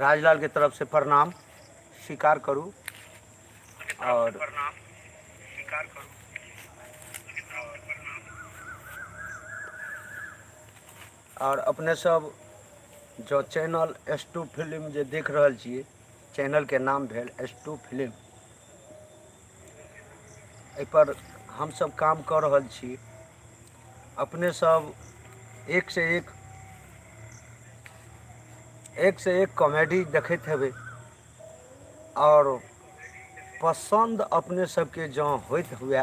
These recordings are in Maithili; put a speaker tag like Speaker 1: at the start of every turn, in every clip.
Speaker 1: राजलाल के तरफ से प्रणाम स्वीकार करू और और अपने सब जो चैनल एस टू फिल्म जे देख रहल छी चैनल के नाम भेल एस टू फिल्म एहिपर हमसब काम कऽ रहल छी अपने सब एक से एक एक से एक कॉमेडी देखैत हेबै आओर पसन्द अपने सबके जँ होइत हुए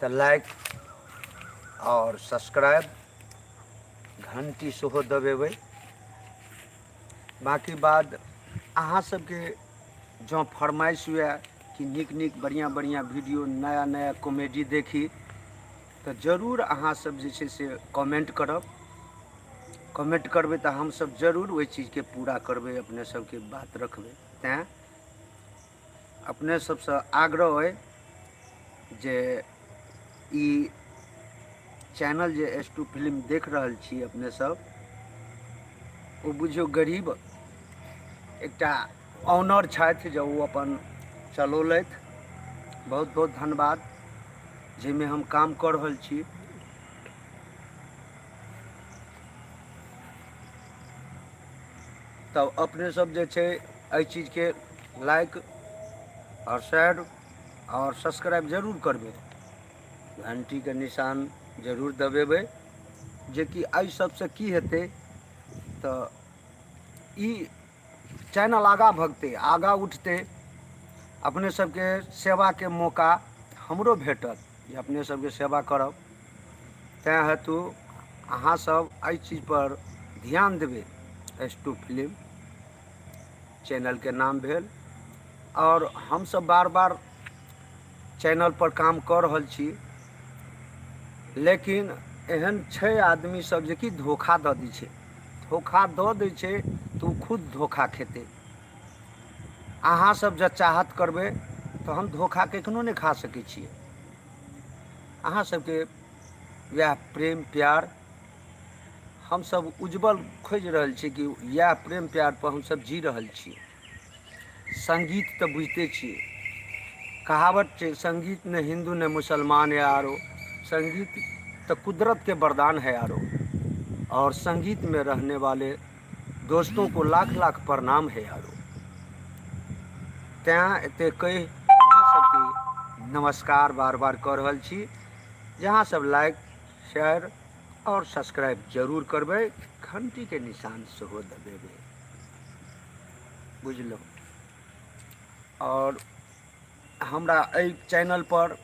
Speaker 1: तऽ लाइक आओर सब्सक्राइब घण्टी सेहो दबेबै बाकी बाद अहाँ सबके जँ फरमाइश हुए कि नीक नीक बढ़िआँ बढ़िआँ वीडियो नया नया कॉमेडी देखी तऽ जरूर अहाँसभ जे छै से कमेंट करब कमेंट करबै तऽ हमसभ जरूर ओहि चीजके पूरा करबै अपने सभके बात रखबै तैँ अपने सभसँ आग्रह अइ जे ई चैनल जे एस टू फिल्म देख रहल छी अपने सब ओ बुझियौ गरीब एकटा ऑनर छथि जे ओ अपन चलौलथि बहुत बहुत धन्यवाद जाहिमे हम काम कऽ रहल छी तब अपने सब जे छै एहि चीजके लाइक आओर शेयर आओर सब्सक्राइब जरूर करबै घण्टीके निशान जरूर दबेबै जेकि एहि सबसँ की हेतै तऽ ई चैनल आगाँ भगतै आगाँ उठतै अपने सबके सेवाके मौका हमरो भेटत जे अपने सबके सेवा करब तैँ हेतु अहाँसब एहि चीजपर ध्यान देबै एस टू फिलिम चैनलके नाम भेल आओर हमसभ बार बार चैनलपर काम कऽ रहल छी लेकिन एहन छै आदमी सब जे कि धोखा दऽ दै छै धोखा दऽ दै छै तऽ ओ खुद धोखा खेतै अहाँ सब जँ चाहत करबै तऽ हम धोखा कखनो नहि खा सकै छियै अहाँ सबके वएह प्रेम प्यार हमसभ उज्ज्वल खोजि रहल छी कि इएह प्रेम प्यारपर हमसभ जी रहल छी संगीत तऽ बुझिते छियै कहावत छै संगीत ने हिन्दू ने मुसलमान या आरो संगीत तऽ कुदरत के वरदान है आरो और संगीत में रहने वाले दोस्तों को लाख लाख प्रणाम है आरो तैं एते कहि अहाँ सबके नमस्कार बार बार कऽ रहल छी जे अहाँ सब लाइक शेयर और सब्सक्राइब जरूर करबे घंटी के निशान सेहो दबेबे बुझलहुँ और हमरा एहि चैनल पर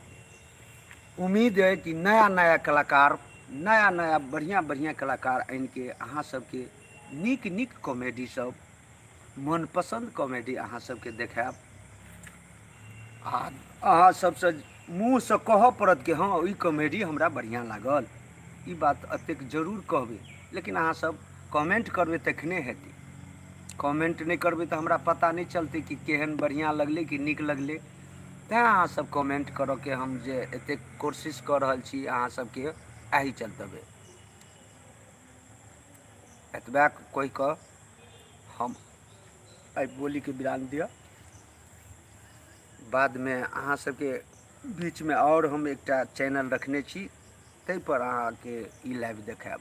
Speaker 1: उम्मीद है कि नया नया कलाकार नया नया बढ़िया बढ़िया कलाकार आनि के अहाँ सबके नीक नीक कॉमेडी सब मनपसन्द कॉमेडी अहाँ सबके देखायब आ अहाँ सबसँ मुँहसँ कहऽ पड़त कि हँ ई कॉमेडी हमरा बढ़िआँ लागल ई बात एतेक जरूर कहबै लेकिन अहाँसभ कमेन्ट करबै तखने हेतै कमेन्ट नहि करबै तऽ हमरा पता नहि चलतै कि केहन बढ़िआँ लगलै कि नीक लगलै तैँ अहाँसभ कमेन्ट करऽके हम जे एतेक कोशिश कऽ रहल छी अहाँसभके एहि चलतबै एतबा कहि कऽ हम एहि बोलीके विराम दिअ बादमे अहाँ सबके बीचमे आओर हम एकटा चैनल रखने छी ताहिपर अहाँके ई लाइव देखायब